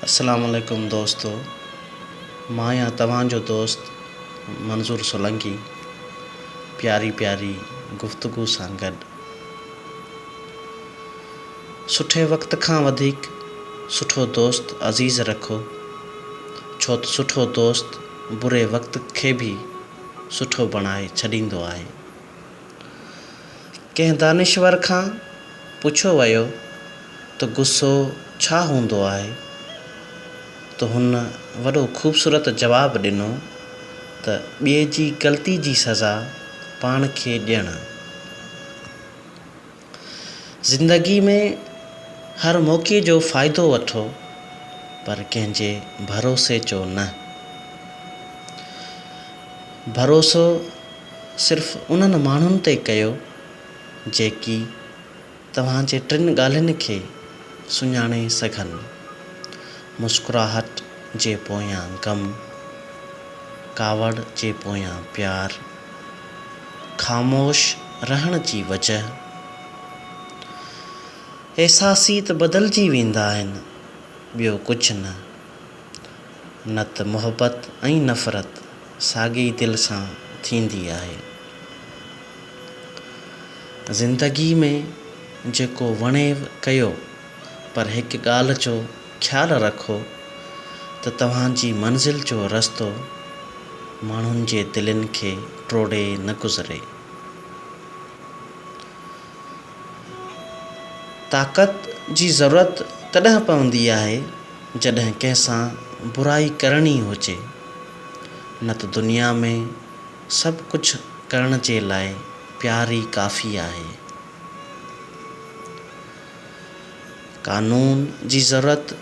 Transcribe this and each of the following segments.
السلام عليڪم دوستو مان آهيان توهان جو دوست منظور سولنگي پياري پياري گفتگو سان گڏ سٺي وقت کان وڌيڪ سٺو دوست عزيز رکو ڇو ته سٺو دوست بري وقت کي به سٺو بڻائي ڇڏيندو آهي. ڪنهن دانشور کان پڇيو ويو ته غصو ڇا هوندو آهي ته هن وڏو خوبصورت جواب ڏنو ته ٻئي جي غلطي جي سزا پاڻ کي ڏيڻ. زندگي ۾ هر موقعي جو فائدو وٺو پر ڪنهن جي ڀروسي جو نه. ڀروسو صرف انهن ماڻهن تي ڪيو جيڪي توهان جي ٽن ڳالهين کي سڃاڻي سگهن، مسڪراهٽ جي پويان غم، ڪاوڙ جي پويان پيار، خاموش رهڻ جي وجهه احساسي ته بدلجي ويندا آهن، ٻيو ڪجهه نه. نه ته محبت ۽ نفرت ساڳي ئي دل سان ٿيندي آهي. زندگي ۾ جيڪو وڻيو ڪيو پر هڪ ڳالهه جو خيال رکو ته توهان جي منزل جو رستو ماڻهن جي دلين کي ٽوڙي نه گذري. طاقت جي ضرورت تڏهن پوندي آهي جڏهن ڪنهن سان برائي ڪرڻي هجي نه ته دنيا ۾ سڀ ڪجهه ڪرڻ جي لاء پيار ئي ڪافي آهي. قانون جي ضرورت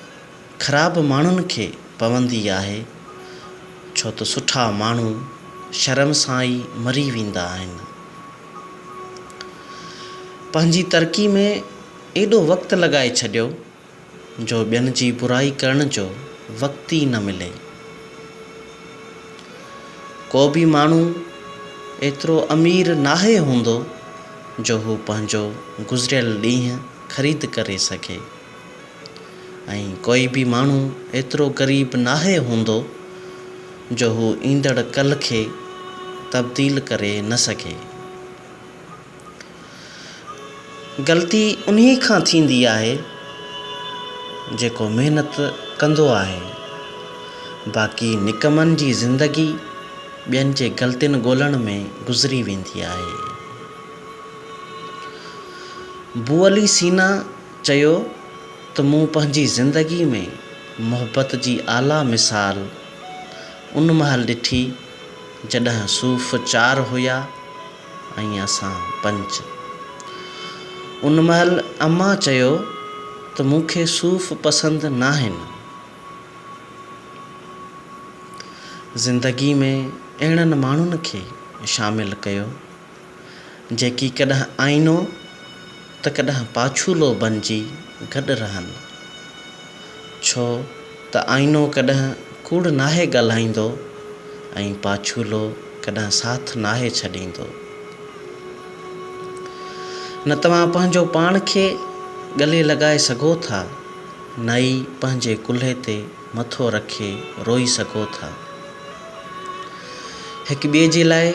خراب ماڻهن کي پوندي آهي، ڇو ته سٺا ماڻهو شرم سان ئي مري ويندا آهن. پنهنجي ترقي ۾ ايڏو وقت لڳائي ڇڏيو جو ٻين جي برائي ڪرڻ جو وقت ئي نه ملي. ڪو به ماڻهو ايترو امير ناهي هوندو جو هو پنهنجو گذريل ڏينهن خريد ڪري سگهي ۽ ڪوئي به ماڻهو ايترو غريب ناهي هوندو جو هو ايندڙ ڪلهه کي تبديل ڪري نه سگهي. غلطي انهي کان ٿيندي آهي جيڪو محنت ڪندو آهي باقي نڪمن جي زندگي ٻين جي غلطين ڳولڻ ۾ گذري ويندي آهي. بوعلي سينا چيو ته مون پنهنجي زندگي ۾ محبت جي اعليٰ مثال ان مهل ڏٺي جڏهن صوف چار هيا ۽ اسان پنچ. ان مهل امان چيو ته مون کي صوف پسند ناهن. زندگي ۾ اهڙن ماڻهن کي شامل ڪيو، جيڪي ڪڏهن آئينو ته ڪڏهن پاڇولو بنجي گڏ رهن. ڇو ته آئينو ڪڏهن ڪوڙ ناهي ڳالهائيندو ۽ پاڇولو ڪڏهن ساٿ ناهي ڇڏيندو. نه توهان پنهنجو پاڻ کي ڳلي لڳائي سگهو ٿا، نه ئي پنهنجي ڪلهي تي مٿو رکي روئي سگهو ٿا. هڪ ٻئي جي لاء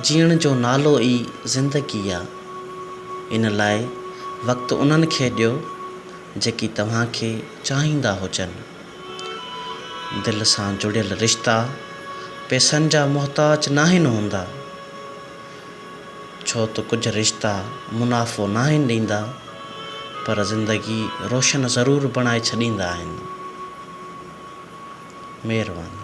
جيئڻ جو نالو ئي زندگي آ. ان لاء وقت انهن کي ڏيو جيڪي توهان کي چاهيندا هجن. دل سان جڙيل رشتا پيسن جا محتاج ناهن هوندا، ڇو ته ڪجهه رشتا منافعو ناهن ڏيندا، پر زندگي روشن ضرور بڻائي ڇڏيندا آهن. مهرباني.